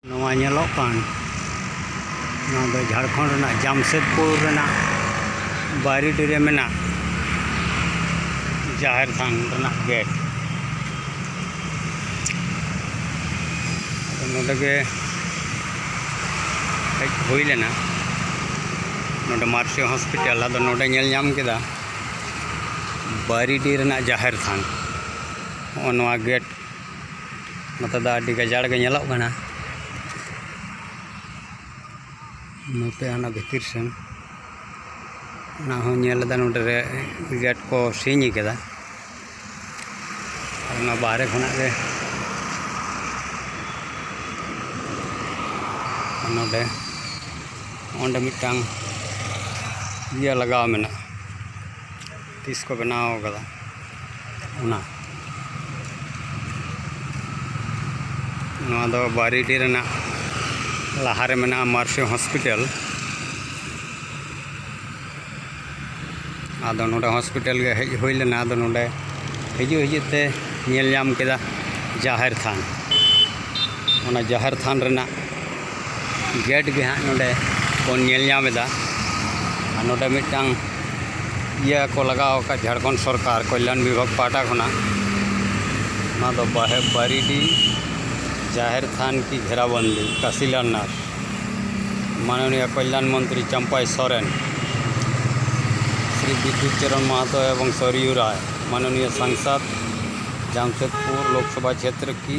ᱱᱚᱣᱟ ᱧᱮᱞᱚᱜ ᱠᱟᱱ ᱱᱚᱣᱟ ᱫᱚ ᱡᱷᱟᱲᱠᱷᱚᱸᱰ ᱨᱮᱱᱟᱜ ᱡᱟᱢᱥᱮᱫᱽᱯᱩᱨ ᱨᱮᱱᱟᱜ ᱵᱟᱭᱨᱤᱰᱤ ᱨᱮ ᱢᱮᱱᱟᱜ ᱡᱟᱦᱮᱨ ᱛᱷᱟᱱ ᱨᱮᱱᱟᱜ ᱜᱮᱴ ᱟᱫᱚ ᱱᱚᱰᱮ ᱜᱮ ᱦᱮᱡ ᱦᱩᱭ ᱞᱮᱱᱟ ᱱᱚᱰᱮ ᱢᱟᱨᱥᱤ ᱦᱚᱥᱯᱤᱴᱟᱞ ᱟᱫᱚ ᱱᱚᱰᱮ ᱧᱮᱞ ᱧᱟᱢ ᱠᱮᱫᱟ ᱵᱟᱭᱨᱤᱰᱤ ᱨᱮᱱᱟᱜ ᱡᱟᱦᱮᱨ ᱛᱷᱟᱱ ᱦᱚᱸᱜᱼᱚ ᱱᱚᱣᱟ ᱜᱮᱴ ᱱᱚᱛᱮ ᱫᱚ ᱟᱹᱰᱤ ᱜᱟᱡᱟᱲ ᱜᱮ ᱧᱮᱞᱚᱜ ᱠᱟᱱᱟ ᱱᱚᱛᱮ ᱦᱟᱱᱟ ᱵᱷᱤᱛᱤᱨ ᱥᱮᱱ ᱚᱱᱟ ᱦᱚᱸ ᱧᱮᱞ ᱞᱮᱫᱟ ᱱᱚᱰᱮ ᱨᱮ ᱜᱮᱴ ᱠᱚ ᱥᱤᱧ ᱠᱟᱫᱟ ᱚᱱᱟ ᱵᱟᱦᱨᱮ ᱠᱷᱚᱱᱟᱜ ᱜᱮ ᱱᱚᱰᱮ ᱚᱸᱰᱮ ᱢᱤᱫᱴᱟᱝ ᱤᱭᱟᱹ ᱞᱟᱜᱟᱣ ᱢᱮᱱᱟᱜᱼᱟ ᱛᱤᱥ ᱠᱚ ᱵᱮᱱᱟᱣ ᱟᱠᱟᱫᱟ ᱚᱱᱟ ᱱᱚᱣᱟ ᱫᱚ ᱵᱟᱨᱤᱰᱤ ᱨᱮᱱᱟᱜ ᱞᱟᱦᱟᱨᱮ ᱢᱮᱱᱟᱜᱼᱟ ᱢᱟᱨᱥᱤ ᱦᱚᱥᱯᱤᱴᱟᱞ ᱟᱫᱚ ᱱᱚᱰᱮ ᱦᱚᱥᱯᱤᱴᱟᱞ ᱜᱮ ᱦᱮᱡ ᱦᱩᱭ ᱞᱮᱱᱟ ᱟᱫᱚ ᱱᱚᱰᱮ ᱦᱤᱡᱩᱜ ᱦᱤᱡᱩᱜ ᱛᱮ ᱧᱮᱞ ᱧᱟᱢ ᱠᱮᱫᱟ ᱡᱟᱦᱮᱨ ᱛᱷᱟᱱ ᱚᱱᱟ ᱡᱟᱦᱮᱨ ᱛᱷᱟᱱ ᱨᱮᱱᱟᱜ ᱜᱮᱴ ᱜᱮ ᱦᱟᱸᱜ ᱱᱚᱰᱮ ᱵᱚᱱ ᱧᱮᱞ ᱧᱟᱢ ᱮᱫᱟ ᱟᱨ ᱱᱚᱰᱮ ᱢᱤᱫᱴᱟᱝ ᱤᱭᱟᱹ ᱠᱚ ᱞᱟᱜᱟᱣ ᱟᱠᱟᱫ ᱡᱷᱟᱲᱠᱷᱚᱸᱰ ᱥᱚᱨᱠᱟᱨ ᱠᱚᱞᱭᱟᱱ ᱵᱤᱵᱷᱟᱜᱽ ᱯᱟᱦᱴᱟ ᱠᱷᱚᱱᱟᱜ ᱚᱱᱟ ᱫᱚ ᱵᱟᱦᱮᱵ ᱵᱟᱨᱤᱰᱤ ᱡᱟᱦᱮᱨ ᱛᱷᱟᱱ ᱠᱤ ᱜᱷᱮᱨᱟᱵᱚᱱᱫᱤ ᱠᱟᱥᱤᱞᱟᱞᱱᱟᱛᱷ ᱢᱟᱱᱚᱱᱤᱭᱟ ᱠᱚᱞᱭᱟᱱ ᱢᱚᱱᱛᱨᱤ ᱪᱟᱢᱯᱟᱭ ᱥᱚᱨᱮᱱ ᱥᱨᱤ ᱵᱤᱫᱽᱫᱩᱛ ᱪᱚᱨᱚᱱ ᱢᱟᱦᱟᱛᱚ ᱮᱵᱚᱝ ᱥᱚᱨᱭᱩ ᱨᱟᱭ ᱢᱟᱱᱚᱱᱤᱭᱟ ᱥᱟᱝᱥᱟᱫᱽ ᱡᱟᱢᱥᱮᱫᱽᱯᱩᱨ ᱞᱳᱠᱥᱚᱵᱷᱟ ᱪᱷᱮᱛᱨᱚ ᱠᱤ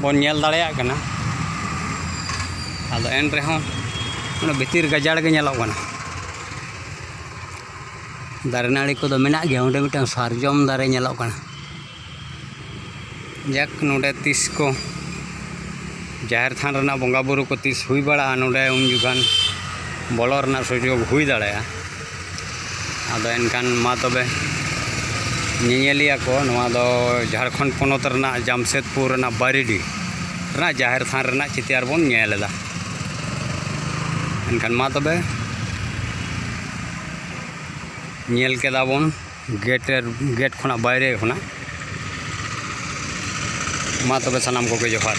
ᱵᱚᱱ ᱧᱮᱞ ᱫᱟᱲᱮᱭᱟᱜ ᱠᱟᱱᱟ ᱟᱫᱚ ᱮᱱ ᱨᱮᱦᱚᱸ ᱚᱱᱟ ᱵᱷᱤᱛᱤᱨ ᱜᱟᱡᱟᱲ ᱜᱮ ᱧᱮᱞᱚᱜ ᱠᱟᱱᱟ ᱫᱟᱨᱮ ᱱᱟᱹᱲᱤ ᱠᱚᱫᱚ ᱢᱮᱱᱟᱜ ᱜᱮᱭᱟ ᱚᱸᱰᱮ ᱢᱤᱫᱴᱟᱝ ᱥᱟᱨᱡᱚᱢ ᱫᱟᱨᱮ ᱧᱮᱞᱚᱜ ᱠᱟᱱᱟ ᱡᱟᱠ ᱱᱚᱰᱮ ᱛᱤᱥ ᱠᱚ ᱡᱟᱦᱮᱨ ᱛᱷᱟᱱ ᱨᱮᱱᱟᱜ ᱵᱚᱸᱜᱟᱼᱵᱩᱨᱩ ᱠᱚ ᱛᱤᱥ ᱦᱩᱭ ᱵᱟᱲᱟᱜᱼᱟ ᱱᱚᱰᱮ ᱩᱱ ᱡᱚᱠᱷᱟᱱ ᱵᱚᱞᱚ ᱨᱮᱱᱟᱜ ᱥᱩᱡᱳᱜᱽ ᱦᱩᱭ ᱫᱟᱲᱮᱭᱟᱜᱼᱟ ᱟᱫᱚ ᱮᱱᱠᱷᱟᱱ ᱢᱟ ᱛᱚᱵᱮ ᱧᱮᱧᱮᱞᱤᱭᱟᱹ ᱠᱚ ᱱᱚᱣᱟ ᱫᱚ ᱡᱷᱟᱲᱠᱷᱚᱸᱰ ᱯᱚᱱᱚᱛ ᱨᱮᱱᱟᱜ ᱡᱟᱢᱥᱮᱫᱽᱯᱩᱨ ᱨᱮᱱᱟᱜ ᱵᱟᱨᱤᱰᱤ ᱨᱮᱱᱟᱜ ᱡᱟᱦᱮᱨ ᱛᱷᱟᱱ ᱨᱮᱱᱟᱜ ᱪᱤᱛᱟᱹᱨ ᱵᱚᱱ ᱧᱮᱞ ᱮᱫᱟ ᱮᱱᱠᱷᱟᱱ ᱢᱟ ᱛᱚᱵᱮ ᱧᱮᱞ ᱠᱮᱫᱟ ᱵᱚᱱ ᱜᱮᱴ ᱜᱮᱴ ᱠᱷᱚᱱᱟᱜ ᱵᱟᱭᱨᱮ ᱠᱷᱚᱱᱟᱜ ᱢᱟ ᱛᱚᱵᱮ ᱥᱟᱱᱟᱢ ᱠᱚᱜᱮ ᱡᱚᱦᱟᱨ